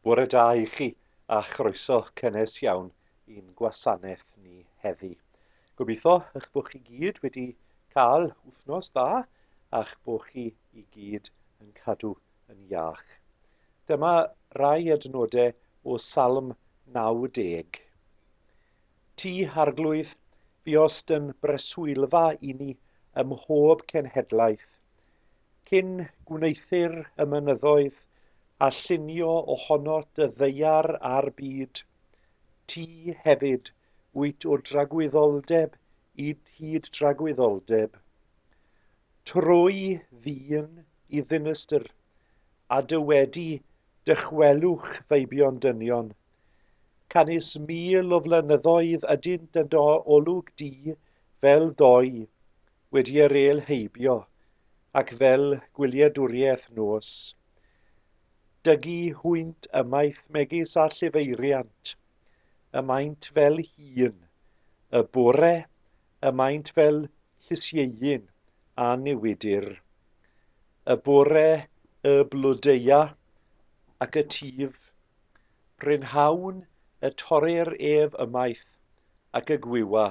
Bore da i chi a chroeso cynnes iawn i'n gwasanaeth ni heddi. Gobeithio eich bod chi gyd wedi cael wythnos dda a'ch bod chi i gyd yn cadw yn iach. Dyma rai adnodau o Salm 90. Ti, Arglwydd, fuost yn breswylfa i ni ym mhob cenhedlaeth, cyn gwneuthur y mynyddoedd a llunio ohono dy ddaear a'r byd. Ti hefyd wyt o dragwyddoldeb i hyd dragwyddoldeb. Trwy ddyn i ddinistr, a dy wedi dychwelwch feibion dynion, Canys mil o flynyddoedd ydynt yn do olwg di fel doi wedi yr el heibio, ac fel gwyliedwriaeth nos. Dygu hwynt ymaith megis a llifeiriant, y maent fel hun, y bore y maent fel llysieuyn a newidir. Y bore y blodeuau ac y tif Brynhawn y torrir ef ymaith ac y gwywa.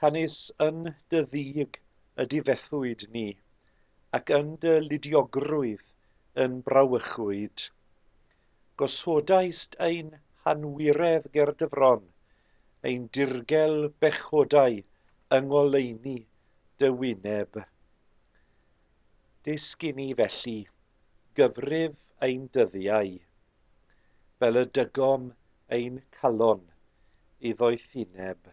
Canys yn dy ddig y difethwyd ni, ac yn dy ludiogrwydd yn brawychwyd. Gosodaist ein hanwiredd ger dy fron, ein dirgel bechodau yng ngoleuni dy wyneb. Dysgu ni felly gyfrif ein dyddiau, fel y dygom ein calon i ddoethineb.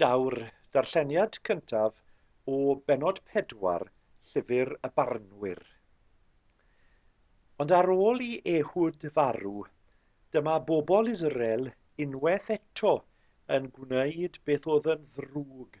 Daw'r darlleniad cyntaf o bennod pedwar Llyfr y Barnwyr. Ond ar ôl i Ehud farw, dyma bobl Israel unwaith eto yn gwneud beth oedd yn ddrwg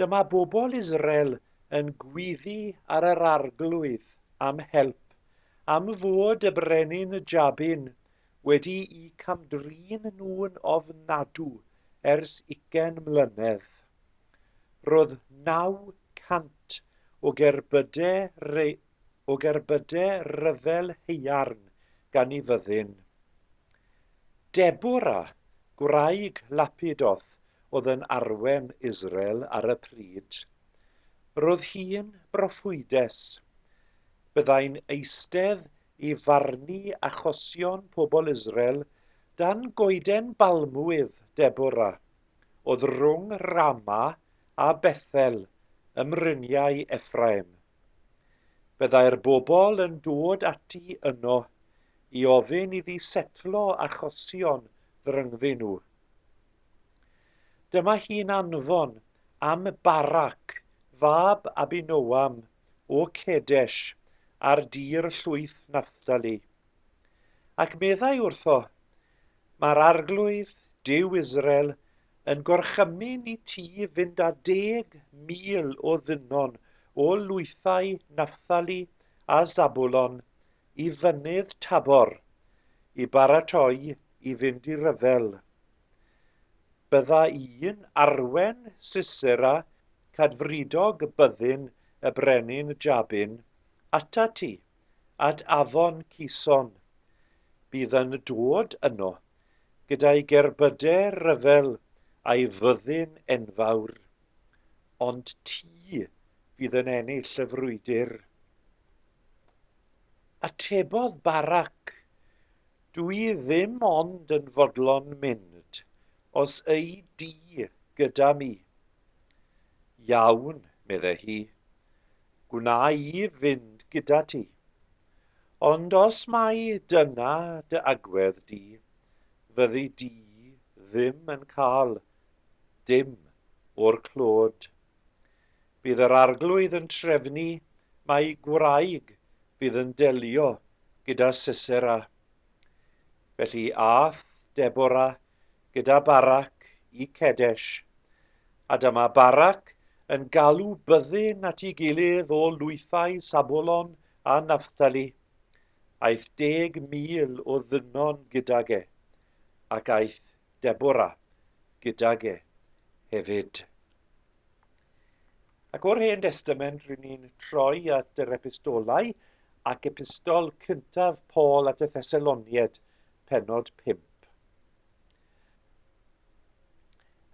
Dyma bobl Israel yn gwyddu ar yr arglwydd am help am fod y brenin Jabin wedi'u camdrin nhw'n ofnadw ers ugain mlynedd. Roedd 900 o gerbydau, re, o gerbydau ryfel haearn gan ei fyddin. Deborah, gwraig Lapidoth, oedd yn arwen Israel ar y pryd. Roedd hi'n broffwydes. Byddai'n eistedd i farnu achosion pobl Israel dan goeden balmwydd Deborah, oedd rhwng Rama a Bethel ym mryniau Ephraim. Byddai'r bobl yn dod ati yno i ofyn iddi setlo achosion ddryngddyn nhw. Dyma hi'n anfon am Barak, fab Abinoam o Cedesh, ar dir llwyth Naphtali. Ac meddai wrtho, Mae'r arglwydd, Duw Israel, yn gorchymyn i ti fynd â deg mil o ddynon o lwythau Naphtali a Zabulon i Fynydd Tabor i baratoi i fynd i ryfel. Bydda i'n arwen Sisera cadfridog byddin y brenin Jabin ata ti, at afon Cison. Bydd yn dod yno gyda'i gerbyde ryfel a'i fyddin enfawr. Ond ti fydd yn ennill y frwydr. Atebodd Barak, Dw i ddim ond yn fodlon mynd os y'i di gyda mi. Iawn, medde hi, gwna i fynd gyda ti. Ond os mai dyna dy agwedd di, fyddi di ddim yn cael dim o'r clod. Bydd yr Arglwydd yn trefnu mai gwraig fydd yn delio gyda Sisera. Felly ath Debora gyda Barac i Cedesh, a dyma Barac yn galw byddin at ei gilydd o lwythau Sabolon a Naphtali. Aeth deg mil o ddynon gydag e, ac aeth Debora gydag e hefyd. Ac o'r Hen Destament, rydyn ni'n troi at yr epistolau ac epistol cyntaf Paul at y Thessalonied, penod 5.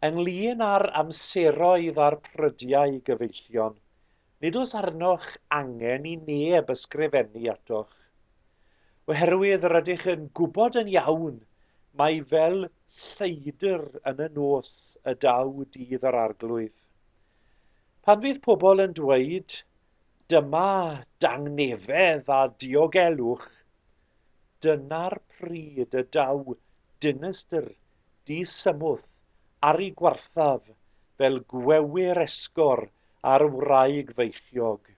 Ynglyn â'r amseroedd a'r prydiau gyfeillion, Nid oes arnoch angen i neb ysgrifennu atoch, oherwydd rydych yn gwybod yn iawn mai fel lleidr yn y nos y daw dydd yr arglwydd. Pan fydd pobl yn dweud, dyma dangnefedd a diogelwch, dyna'r pryd y daw dinistr disymwth ar ei gwarthaf fel gwewyr esgor ar wraig feichiog,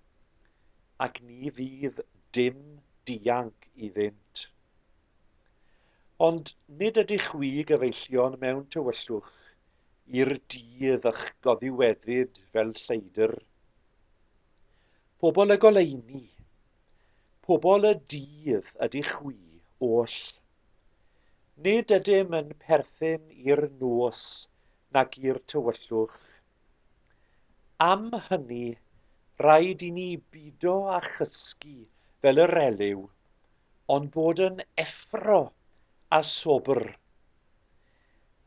ac ni fydd dim dianc iddynt. Ond nid ydych chwi gyfeillion mewn tywyllwch i'r dydd ych goddiweddid fel lleidr. Pobl y goleuni, pobl y dydd ydych chwi oll. Nid ydym yn perthyn i'r nos nag i'r tywyllwch. Am hynny, rhaid i ni bido â chysgu fel yr Eliw, ond bod yn effro a sobr.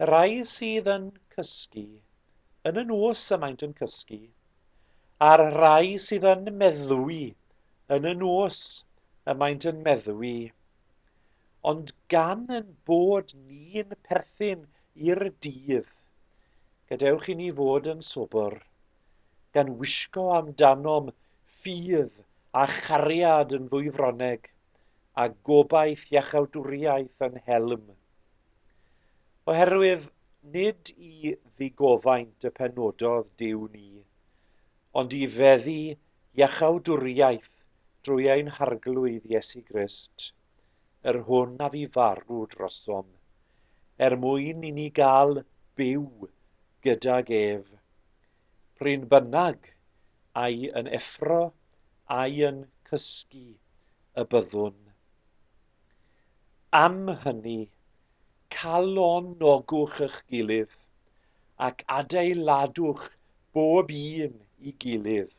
Y rhai sydd yn cysgu, yn y nos y maent yn cysgu, a'r rhai sydd yn meddwi, yn y nos y maent yn meddwi. Ond gan yn bod ni'n perthyn i'r dydd, gadewch i ni fod yn sobr, gan wisgo amdanom ffydd a chariad yn ddwyfroneg, a gobaith iachawdwriaeth yn helm. Oherwydd nid i ddigofaint y penododd Duw ni, ond i feddu iachawdwriaeth drwy ein Harglwydd Iesu Grist, yr hwn a fu farw drosom, er mwyn i ni gael byw gydag ef. Pryn bynnag, ai yn effro, ai yn cysgu y byddwn. Am hynny, Calonogwch eich gilydd, ac adeiladwch bob un i gilydd,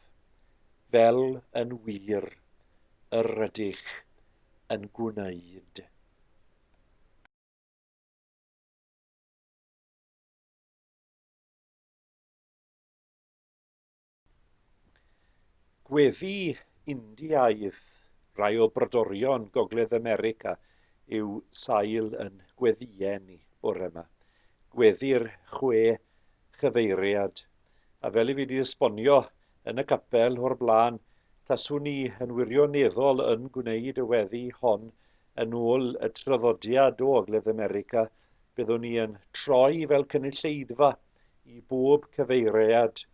fel yn wir yr rydych yn gwneud. Gweddi Indiaidd Rhai o brodorion Gogledd America yw sail yn gweddiau ni bore yma. Gweddi'r chwe chyfeiriad. A fel i fi wedi esbonio yn y capel o'r blaen, taswn ni yn wirioneddol yn gwneud y weddi hon yn ôl y traddodiad o Ogledd America, byddwn ni yn troi fel cynulleidfa i bob cyfeiriad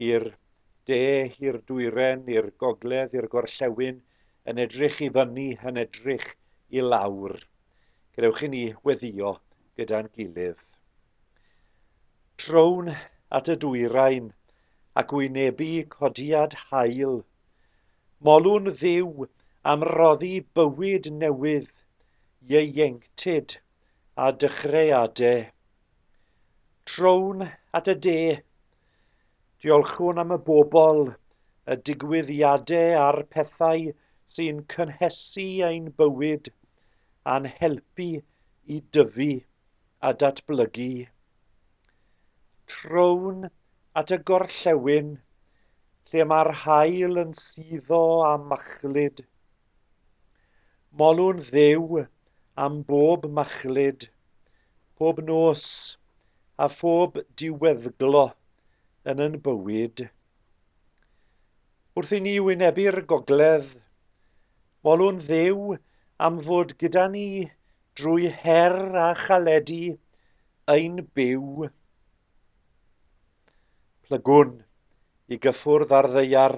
i'r de, i'r dwyren, i'r gogledd, i'r gorllewin, yn edrych i fyny, yn edrych i lawr. Gadewch i ni weddio gyda'n gilydd. Trown at y dwyrain ac wynebu codiad hael. Molwn ddiw am roddi bywyd newydd, ieuenctid a dychreadau. Trown at y de. Diolchwn am y bobl, y digwyddiadau a'r pethau sy'n cynhesu ein bywyd a'n helpu i dyfu a datblygu. Trown at y gorllewin, lle mae'r haul yn suddo a machlud. Molwn Dduw am bob machlud Pob nos, a phob diweddglo yn yn bywyd. Wrth i ni wynebu'r gogledd, molwn ddew am fod gyda ni drwy her a chaledi ein byw. Plygwn i gyffwrdd ar ddeiar,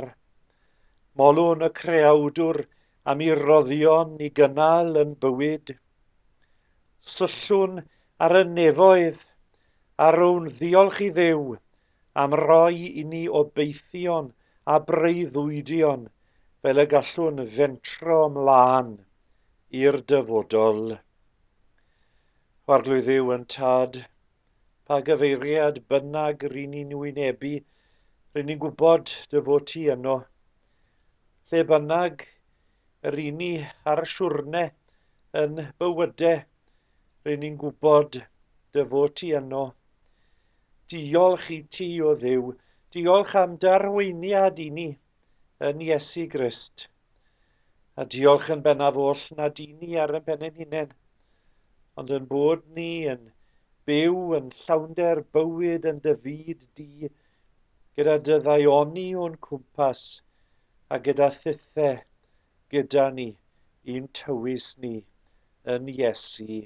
molwn y creawdwr am i roddion i gynnal yn bywyd. Syllwn ar y nefoedd a rown ddiolch i ddew am roi i ni obeithion a breuddwydion fel y gallwn fentro mlaen i'r dyfodol. Arglwyddiw yn tad, pa gyfeiriad bynnag ry'n ni'n wynebu, ry'n ni'n gwybod dy fod ti yno. Lle bynnag yr i ni ar y siwrne yn bywydau, ry'n ni'n gwybod dy fod ti yno. Diolch i ti o ddew, diolch am darweiniad i ni yn Iesu Grist. A diolch yn bennaf oll nad i ni ar yn pen ein hunain, ond yn bod ni yn byw yn llawnder bywyd yn dy fyd di, gyda dy ddaioni o'n cwmpas, a gyda thithe gyda ni, i'n tywys ni yn Iesu.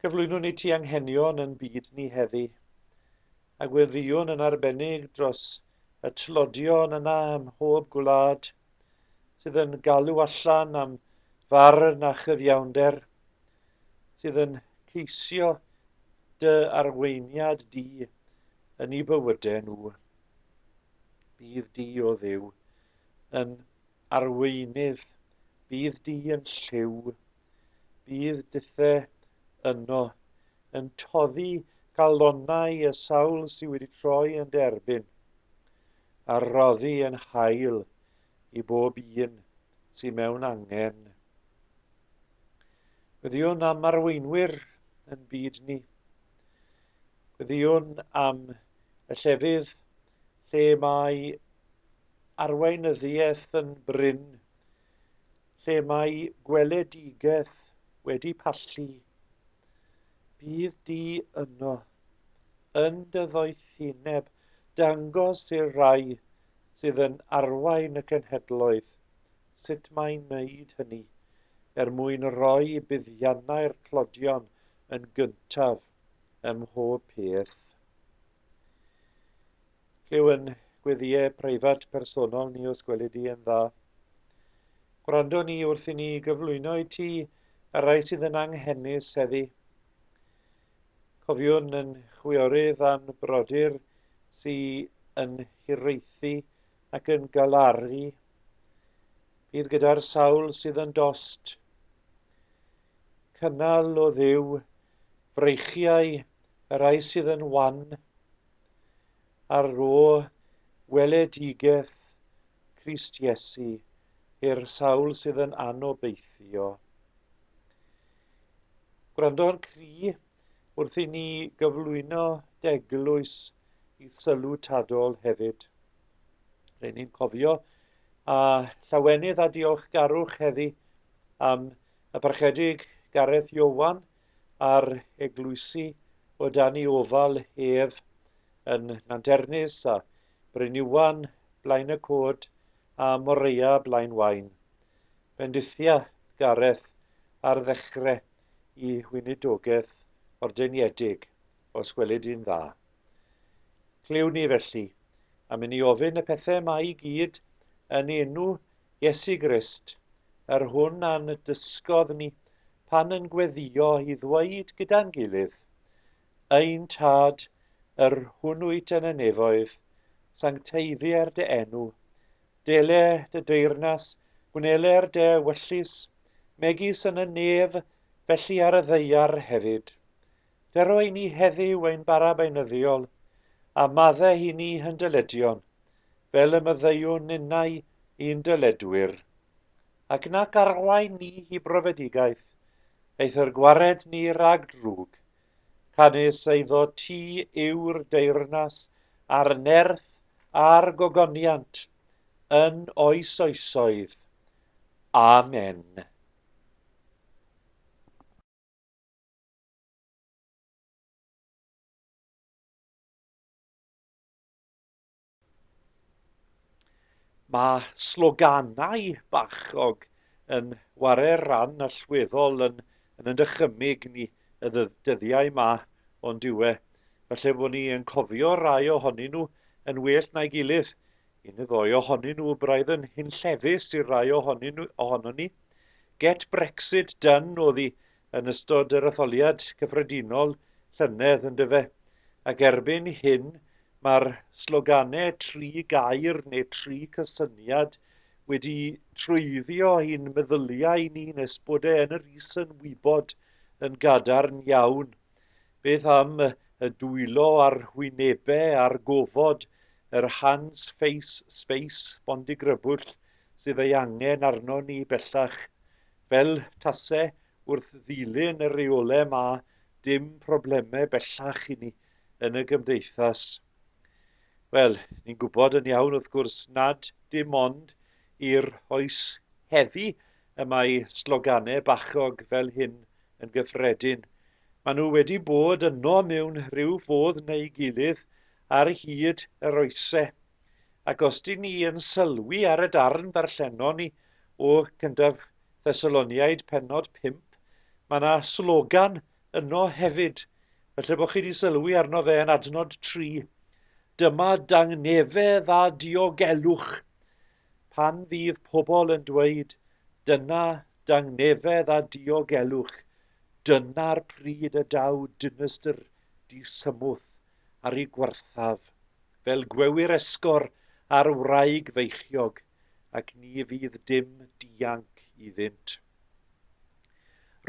Cyflwynwn i ti anghenion yn byd ni heddi, a gweddïwn yn arbennig dros y tlodion yna ym mhob gwlad sydd yn galw allan am farn a chyfiawnder, sydd yn ceisio dy arweiniad di yn eu bywydau nhw. Bydd di o ddiw yn arweinydd, bydd di yn lliw, Bydd Dithe yno yn toddi galonau y sawl sydd wedi troi yn derbyn, a roddi yn hael i bob un sydd mewn angen. Gwyddiwn am arweinwyr yn byd ni. Gwyddiwn am y llefydd lle mae arweinyddiaeth yn brin lle mae gweledigaeth wedi pallu, bydd di yno, yn dy ddoethineb, dangos i'r rai sydd yn arwain y cenhedloedd sut mae'n wneud hynny, er mwyn roi buddiannau'r tlodion yn gyntaf ym mhob peth. Lliw yn gweddïau preifat personol ni os gweli di yn dda. Gwrando ni wrth i ni gyflwyno i ti y rai sydd yn anghenus heddi. Cofiwn yn chwiorydd a'n brodyr sydd yn hiraethu ac yn galaru. Bydd gyda'r sawl sydd yn dost. Cynnal o ddiw freichiau y rai sydd yn wan. ar ôl gweledigaeth Crist Iesu i'r sawl sydd yn anobeithio. Gwrando ar cri wrth i ni gyflwyno deglwys i sylw tadol hefyd. Rhaid ni'n cofio a llawenydd a diolchgarwch heddi am y parchedig Gareth Iowan a'r eglwysi o dan i ofal ef yn Nanternus a Bryniwan blaen y cod a Moreia blaen wain. Bendithia Gareth ar ddechre i weinidogaeth ordeniedig, os gwelid i'n dda. Clywn ni felly, am inni ofyn y pethau mae i gyd yn ei enw Iesu Grist, yr hwn a'n dysgodd ni pan yn gweddio i ddweud gyda'n gilydd, Ein Tad, yr hwn wyt yn y nefoedd, sancteiddier dy enw, dele dy deyrnas, gwneler dy wyllus, megis yn y nef, felly ar y ddeiar hefyd. Dero i ni heddiw ein bara beunyddiol, a madde i ni hyn dyledion, fel y myddeiwn ninnau i'n dyledwyr. Ac nac arwain ni hi brofedigaeth, eithr gwared ni rag drwg. Canys eiddo ti yw'r deyrnas a'r nerth a'r gogoniant yn oes oesoedd. Amen. Mae sloganau bachog yn ware'r ran allweddol yn yn y dychymyg ni y dyddiau yma, ond yw e, falle bod ni yn cofio rai ohonyn nhw yn well na'i gilydd. Un y ddoe ohonyn nhw braidd yn hunllefus i'r rai ohonyn nhw, ohono ni. Get Brexit done oedd i yn ystod yr etholiad cyffredinol llynedd, yn dyfe? Ac erbyn hyn, mae'r sloganau tri gair neu tri cysyniad wedi trwyddio i'n meddyliau ni nes bod e yn yr is yn wybod yn gadarn iawn. Beth am y dwylo a'r hwynebau a'r gofod, yr hands, face, space, bondigrybwll sydd ei angen arno ni bellach Fel tase wrth ddilyn y reolau 'ma dim problemau bellach i ni yn y gymdeithas. Wel, ni'n gwybod yn iawn wrth gwrs nad dim ond i'r oes heddi y mae sloganau bachog fel hyn yn gyffredin. Maen nhw wedi bod yno mewn rhyw fodd neu gilydd ar hyd yr oesau. Ac os dyn ni yn sylwi ar y darn ddarllenon ni o Cyntaf Thessaloniaid penod 5, mae yna slogan yno hefyd. Felly bod chi wedi sylwi arno fe yn adnod 3. Dyma dangnefedd a diogelwch pan fydd pobl yn dweud, dyna dangnefedd a diogelwch, dyna'r pryd y daw dinestr disymwth ar ei gwarthaf, fel gwewyr esgor ar wraig feichiog, ac ni fydd dim dianc iddynt.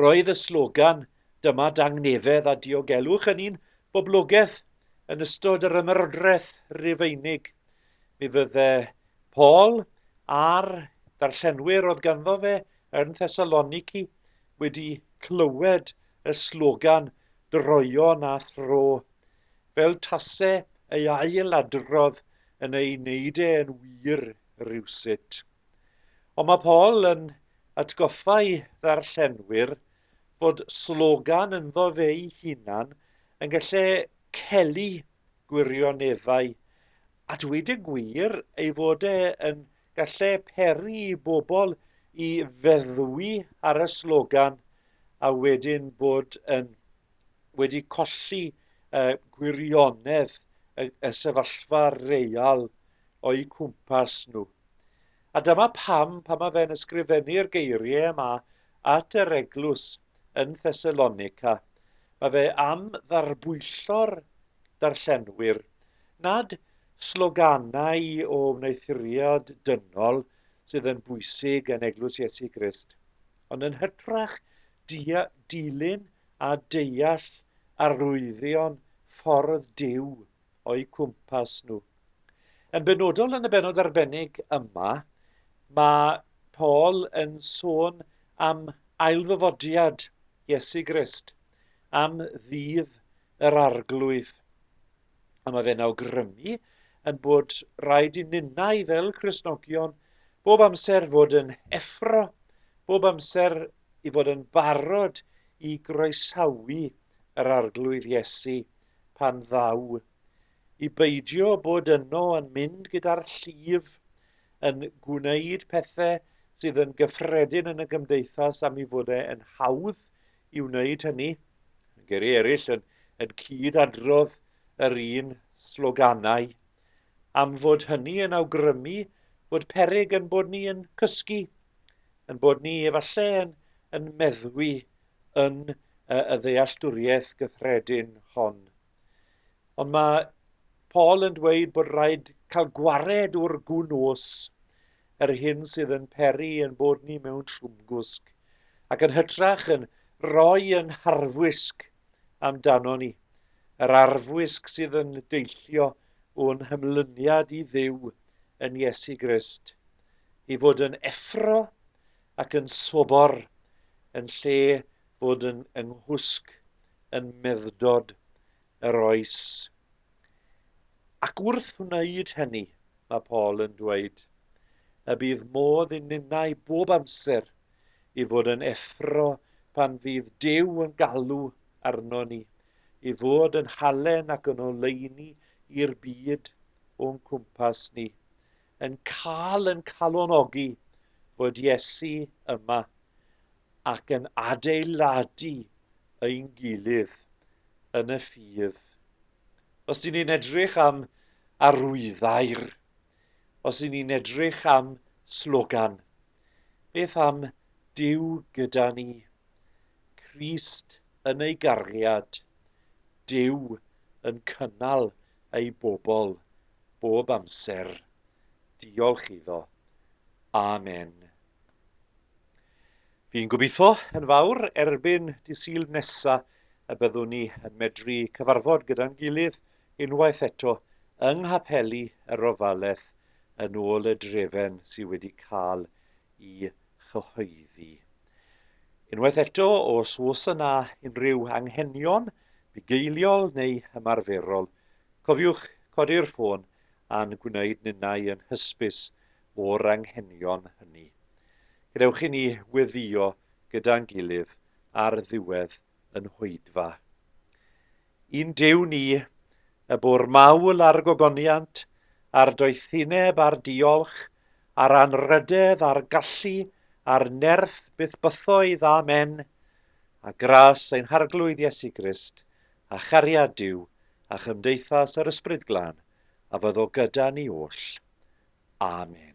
Roedd y slogan Dyma Dangnefedd a Diogelwch yn un boblogaidd yn ystod yr Ymerodraeth Rufeinig. Mi fydde Paul a'r darllenwyr oedd ganddo fe yn Thessaloniki wedi clywed y slogan 'Droeon a Thro', fel tase ei ail adrodd yn ei wneud e yn wir rywsut. Ond mae Paul yn atgoffa'i ddarllenwyr bod slogan ynddo fe'i hunan yn gallu celu gwirioneddau, a dweud y gwir ei fod e yn Gallai peri i bobl i feddwi ar y slogan a wedyn bod yn wedi colli uh, gwirionedd y, y sefyllfa real o'i cwmpas nhw. A dyma pam, pan mae fe'n ysgrifennu'r geiriau yma at yr eglwys, yn Thessalonica, mae fe am ddarbwyllo'r darllenwyr nad sloganau o wneuthuriad dynol sydd yn bwysig yn Eglwys Iesu Grist, ond yn hytrach dilyn a deall arwyddion ffordd Duw o'u cwmpas nhw. Yn benodol yn y benod arbennig yma, mae Paul yn sôn am ailddyfodiad Iesu Grist, am ddydd yr arglwydd. A mae fe'n awgrymu yn bod rhaid i ninnau fel Cresnogion bob amser fod yn effro, bob amser i fod yn barod i groesawu yr arglwydd Iesu pan ddaw, i beidio bod yno yn mynd gyda'r llif, yn gwneud pethe sydd yn gyffredin yn y gymdeithas am i fod e yn hawdd i wneud hynny. Geri eraill yn, yn cyd adrodd yr un sloganau am fod hynny yn awgrymu bod peryg yn bod ni yn cysgu, yn bod ni efallai yn, yn meddwi yn y ddealltwriaeth gyffredin hon. Ond mae Paul yn dweud bod rhaid cael gwared o'r gwn os yr hyn sydd yn peri yn bod ni mewn trwmgwsg ac yn hytrach yn rhoi yn harfwisg amdano ni, yr arfwisg sydd yn deillio o'n hymlyniad i ddiw yn Iesu Grist, i fod yn effro ac yn sobor yn lle bod yn nghwsg yn meddwdod yr oes. Ac wrth wneud hynny, mae Paul yn dweud, y bydd modd i ninnau bob amser i fod yn effro pan fydd Duw yn galw arno ni, i fod yn halen ac yn oleuni i'r byd o'n cwmpas ni, yn cael yn calonogi bod Iesu yma ac yn adeiladu ein gilydd yn y ffydd. Os dyn ni'n edrych am arwyddau'r, os dyn ni'n edrych am slogan, beth am Dyw gyda ni, Christ yn ei gariad, Dyw yn cynnal ei bobl bob amser. Diolch iddo. Amen. Fi'n gobeithio yn fawr erbyn dy syl nesa y byddwn ni yn medru cyfarfod gyda'n gilydd unwaith eto yng nghapeli y Rofaleth yn ôl y drefen sydd wedi cael i chyhoeddi. Unwaith eto, os oes yna unrhyw anghenion bugeiliol neu ymarferol, cofiwch codi'r ffôn a'n gwneud ninnau yn hysbys o'r anghenion hynny. Gadewch i ni weddïo gyda'n gilydd ar ddiwedd yn hwydfa. Yn Duw ni, y bwr mawl a'r gogoniant, a'r doethineb a'r diolch, a'r anrhydedd a'r gallu, a'r nerth bythbythoedd, amen, a gras ein Harglwydd Iesu Grist, a chariad Duw, a chymdeithas yr Ysbryd Glân, a fyddo gyda ni oll. Amen.